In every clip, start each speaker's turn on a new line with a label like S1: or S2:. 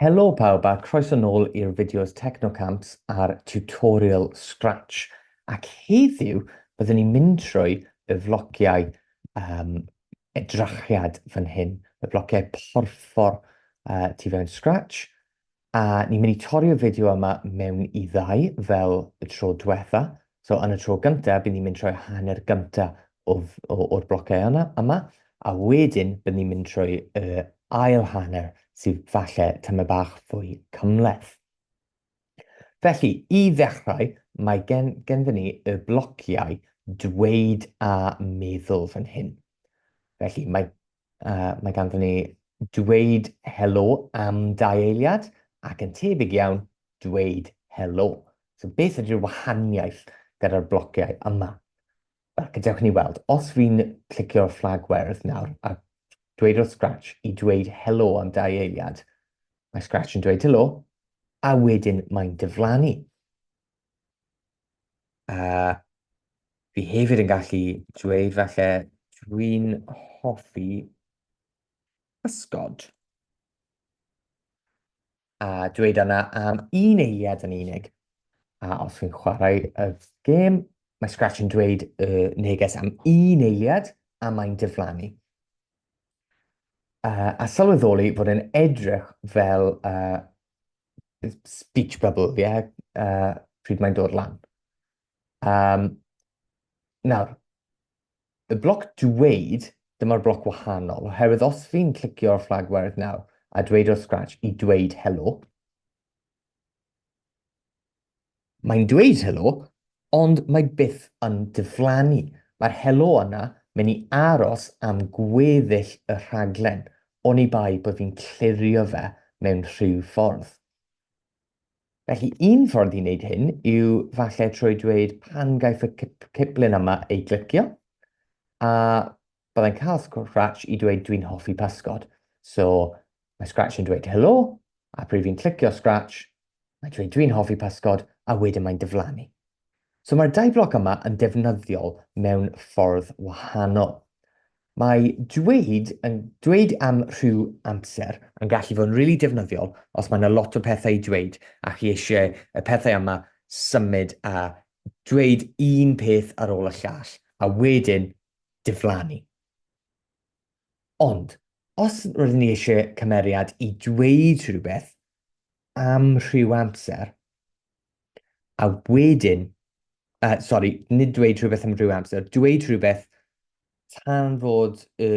S1: Helo pawb a croeso nôl i'r fideos Technocamps a'r tutorial Scratch ac heddiw byddwn ni'n mynd trwy y flogiau um, edrachiad fan hyn, y blociau porffor uh, tu fewn Scratch, A ni'n mynd i torri'r fideo yma mewn i ddau fel y tro diwetha. So yn y tro gyntaf, bydd ni'n mynd trwy hanner gyntaf o'r blocau yna, yma, a wedyn bydd ni'n mynd trwy y ail hanner sydd falle tymed bach fwy cymhleth. Felly, i ddechrau, mae gen, genfyn ni y blociau dweud a meddwl fan hyn. Felly, mae Uh, mae ganddyn ni dweud helo am dau eiliad ac yn tebyg iawn dweud helo. So beth ydy'r wahaniaeth gyda'r blociau yma? Wel, gadewch ni weld. Os fi'n clicio'r fflag werdd nawr a dweud wrth Scratch i dweud helo am dau eiliad, mae Scratch yn dweud helo, a wedyn mae'n diflannu. A fi hefyd yn gallu dweud falle dwi'n hoffi pysgod. A dweud yna am un eiliad yn unig. A os fi'n chwarae y gêm, mae Scratch yn dweud y neges am un eiliad a mae'n diflannu. Uh, a sylweddoli fod yn edrych fel uh, speech bubble, ie, yeah, uh, pryd mae'n dod lan. Um, nawr, y bloc dweud, dyma'r bloc wahanol, oherwydd os fi'n clicio'r flag werth nawr a dweud o'r scratch i dweud helo, Mae'n dweud helo, ond mae byth yn diflannu. Mae'r helo yna mynd i aros am gweddill y rhaglen, oni bai bod fi'n clirio fe mewn rhyw ffordd. Felly, un ffordd i wneud hyn yw falle trwy dweud pan gaiff y ciplun yma ei glicio, a byddai'n cael Scratch i dweud dwi'n hoffi pysgod. So, mae Scratch yn dweud helo, a pryd fi'n clicio Scratch, mae'n dweud dwi'n hoffi pysgod, a wedyn mae'n diflannu. So mae'r dau bloc yma yn defnyddiol mewn ffordd wahanol. Mae dweud, yn, dweud am rhyw amser yn gallu fod yn rili really defnyddiol os mae yna lot o pethau i dweud a chi eisiau y pethau yma symud a dweud un peth ar ôl y llall a wedyn diflannu. Ond, os rydyn ni eisiau cymeriad i dweud rhywbeth am rhyw amser, a wedyn, uh, sori, nid dweud rhywbeth am rhyw amser, dweud rhywbeth tan fod y,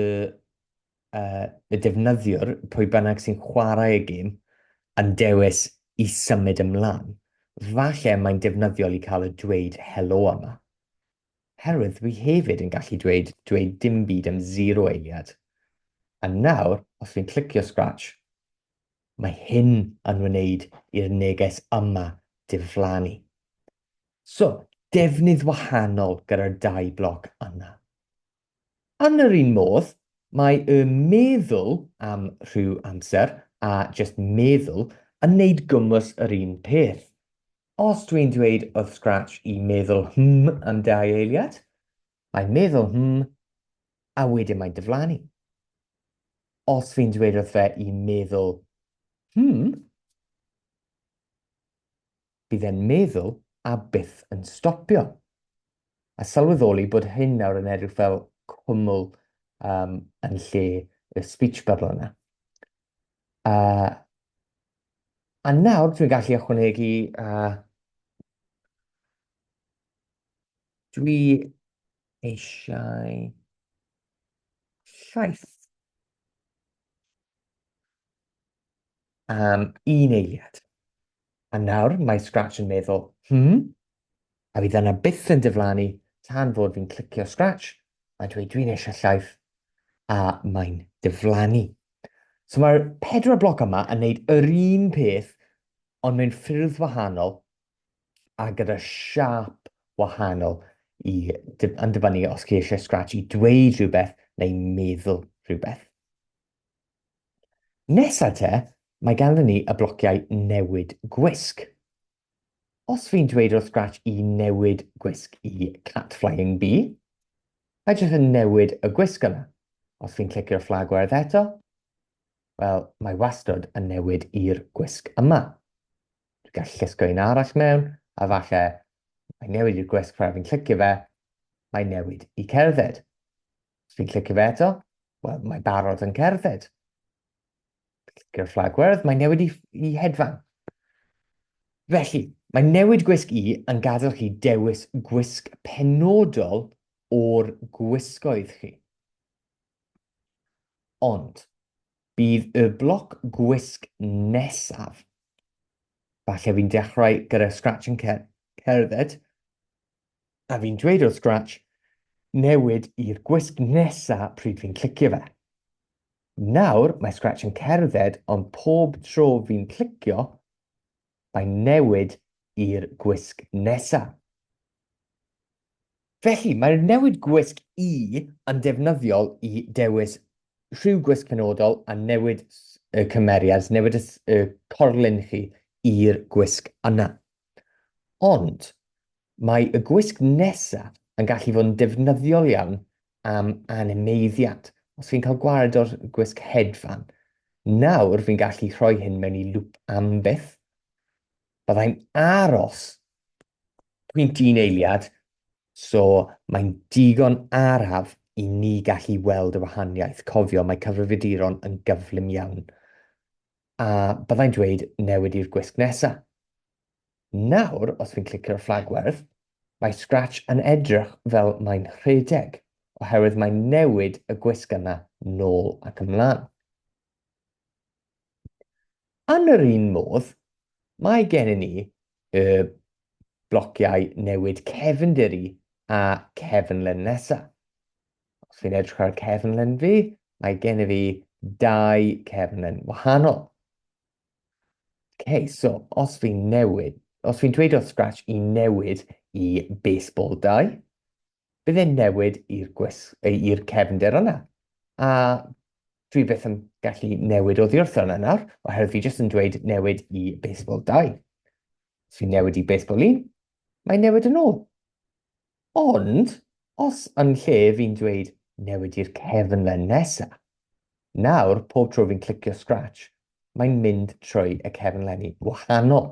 S1: uh, y defnyddiwr, pwy bynnag sy'n chwarae y gêm, yn dewis i symud ymlaen. Falle mae'n defnyddiol i cael y dweud helo yma. Herwydd dwi hefyd yn gallu dweud, dweud dim byd am zero eiliad. A nawr, os dwi'n clicio scratch, mae hyn yn wneud i'r neges yma diflannu. So, defnydd wahanol gyda'r dau bloc yna. Yn yr un modd, mae y meddwl am rhyw amser a jyst meddwl yn neud gwmws yr un peth. Os dwi'n dweud wrth Scratch i meddwl hmm am dau eiliad, mae'n meddwl hmm a wedyn mae'n diflannu. Os fi'n dweud wrth fe i meddwl hmm, Bydd e'n meddwl a byth yn stopio. A sylweddoli bod hyn nawr yn edrych fel cwmwl um, yn lle y speech bubble yna. Uh, a nawr dwi'n gallu ychwanegu uh, dwi eisiau llaeth am um, un eiliad. A nawr mae Scratch yn meddwl, hmm? A fydd yna byth yn diflannu tan fod fi'n clicio Scratch a dweud dwi'n eisiau llaeth a mae'n diflannu. So mae'r pedwar bloc yma yn neud yr un peth ond mewn ffyrdd wahanol a gyda siap wahanol i yn dibynnu os chi eisiau Scratch i dweud rhywbeth neu meddwl rhywbeth. Nesa te, mae ganddyn ni y blociau newid gwisg. Os fi'n dweud wrth Scratch i newid gwisg i Cat Flying Bee, mae jyst yn newid y gwisg yna. Os fi'n clicio'r fflag werdd eto, wel, mae wastod yn newid i'r gwisg yma. Dwi'n gallu llusgo un arall mewn, a falle mae newid i'r gwisg rhaid fi'n clicio fe, mae newid i cerdded. Os fi'n clicio fe eto, wel, mae barod yn cerdded. Clicio'r fflag gwerdd, mae newid i, i hedfan. Felly, mae newid gwisg i yn gadael chi dewis gwisg penodol o'r gwisgoedd chi. Ond, bydd y bloc gwisg nesaf. Falle fi'n dechrau gyda scratch yn cerdded, A fi'n dweud wrth Scratch, newid i'r gwisg nesa pryd fi'n clicio fe. Nawr mae Scratch yn cerdded ond pob tro fi'n clicio, mae'n newid i'r gwisg nesa. Felly, mae'r newid gwisg i yn defnyddiol i dewis rhyw gwisg penodol a newid y cymeriad, newid y corlun chi i'r gwisg yna. Ond, mae y gwisg nesa yn gallu fod yn defnyddiol iawn am animeiddiad, os fi'n cael gwared o'r gwisg hedfan. Nawr fi'n gallu rhoi hyn mewn i lŵp am byth. Byddai'n aros pwynt un eiliad, so mae'n digon araf i ni gallu weld y wahaniaeth. Cofio, mae cyfrifiaduron yn gyflym iawn. a byddai'n dweud newid i'r gwisg nesa. Nawr, os fi'n clicio ar fflag werdd, mae Scratch yn edrych fel mae'n rhedeg, oherwydd mae'n newid y gwisg yna nôl ac ymlaen. Yn yr un modd, mae gennym ni y blociau newid cefndir i a cefnlen nesaf. Os fi'n edrych ar cefnlen fi, mae gen i fi dau cefnlen wahanol. Okay, so os fi'n newid, os fi'n dweud o'r scratch i newid i baseball 2, bydd e'n newid i'r cefnder yna. A dwi beth yn gallu newid o ddiwrth yna nawr, oherwydd fi jyst yn dweud newid i baseball 2. Os fi'n newid i baseball 1, mae'n newid yn ôl. Ond, os yn lle fi'n dweud newid i'r cefn len nesa, nawr pob tro fi'n clicio scratch, mae'n mynd trwy y cefn lenni wahanol.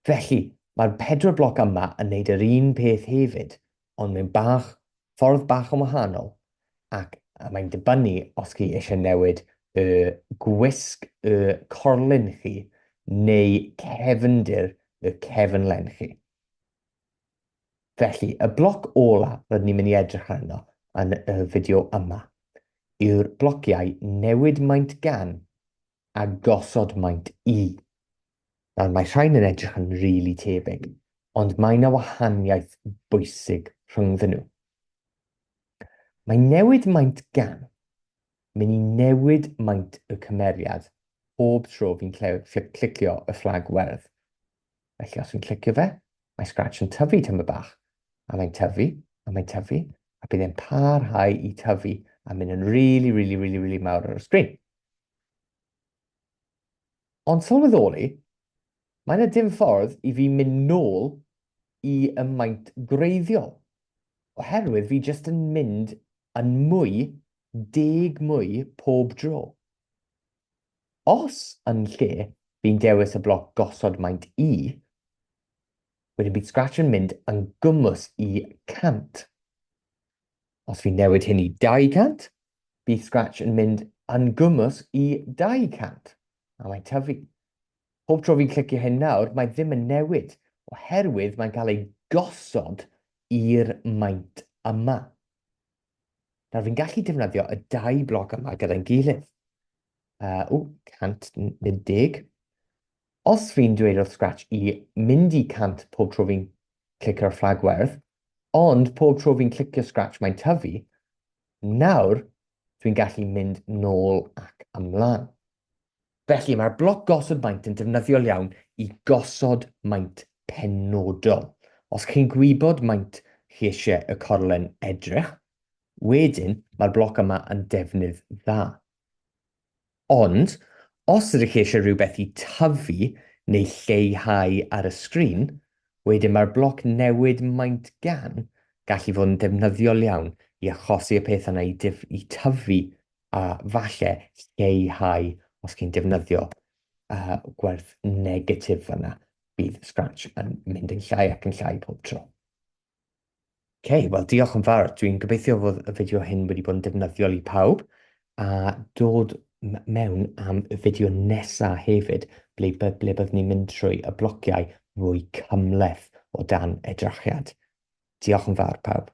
S1: Felly, mae'r pedwar bloc yma yn neud yr un peth hefyd, ond mewn bach, ffordd bach yn wahanol, ac a mae'n dibynnu os chi eisiau newid y gwisg y corlun chi neu cefndir y cefn len chi. Felly, y bloc ola rydyn ni'n mynd i edrych arno yn y fideo yma yw'r blociau newid maint gan a gosod maint i. Nawr, mae rhain yn edrych yn rili really tebyg, ond mae yna wahaniaeth bwysig rhyngddyn nhw. Mae newid maint gan mynd i newid maint y cymeriad pob tro fi'n clicio y fflag werdd. Felly os fi'n clicio fe, mae Scratch yn tyfu tyma bach, a mae'n tyfu, a mae'n tyfu, a bydd e'n parhau i tyfu a mynd yn really, really, really, really mawr ar y sgrin. Ond sylweddoli, mae yna dim ffordd i fi mynd nôl i y maint greiddiol, oherwydd fi jyst yn mynd yn mwy, deg mwy pob dro. Os yn lle fi'n dewis y bloc gosod maint i, wedyn bydd Scratch yn mynd yn gwmws i 100. Os fi'n newid hyn i 200, bydd Scratch yn mynd yn gwmws i 200, a mae'n tyfu. Pob tro fi'n clicio hyn nawr, mae ddim yn newid, oherwydd mae'n cael ei gosod i'r maint yma. Nawr, fi'n gallu defnyddio y dau bloc yma gyda'n gilydd. Uh, o, 110. Os fi'n dweud wrth Scratch i mynd i 100 pob tro fi'n clic ar fflag werdd, ond pob tro fi'n clicio Scratch mae'n tyfu, nawr dwi'n gallu mynd nôl ac ymlaen. Felly, mae'r bloc gosod maint yn defnyddiol iawn i gosod maint penodol. Os chi'n gwybod maint chi eisiau y corlen edrych, wedyn mae'r bloc yma yn defnydd dda. Ond, os ydych chi eisiau rhywbeth i tyfu neu lleihau ar y sgrin, wedyn mae'r bloc newid maint gan gallu fod yn defnyddiol iawn i achosi y peth yna i tyfu a falle lleihau os chi'n defnyddio uh, gwerth negatif yna, bydd Scratch yn mynd yn llai ac yn llai pob tro. OK, wel diolch yn fawr. Dwi'n gobeithio fod y fideo hyn wedi bod yn defnyddiol i pawb a dod mewn am y fideo nesaf hefyd ble, ble byddwn ni'n mynd trwy y blociau fwy cymleth o dan edrachiad. Diolch yn fawr pawb.